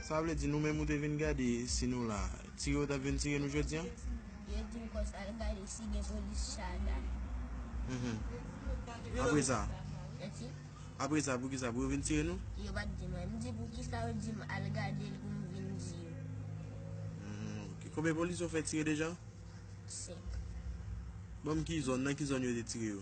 Sa vle di nou menm ou te vin gade si nou la, tire ou tap vin tire nou jodi an? Yo dim konsa al gade si gen polis chagan. Apre sa? Mèsi. Apre sa pou kisa pou yo vin tire nou? Yo pat di mwen. M di pou kisa yo dim al gade l pou m vin di yo. Ok. Konbyen polis yo fè tire deja? 5. Banm ki zòn, nan ki zòn yo te tire yo?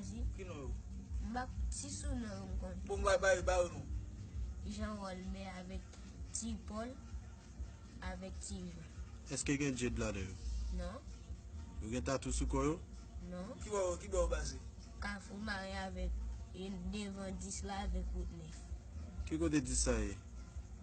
Esi. Ki non yo? Mbak ti sou non yo mkon. Bon mwa bayo bayo non. Jean Rolme avek ti Paul avek ti Jean. Eske gen Jade ladan yo? Non. Yo gen tatou sou kò yo? Non. Ki bò yo ki bò yo pase? Kafou mare avek devan 10 la avek wout 9. Ki kote 10 sa ye?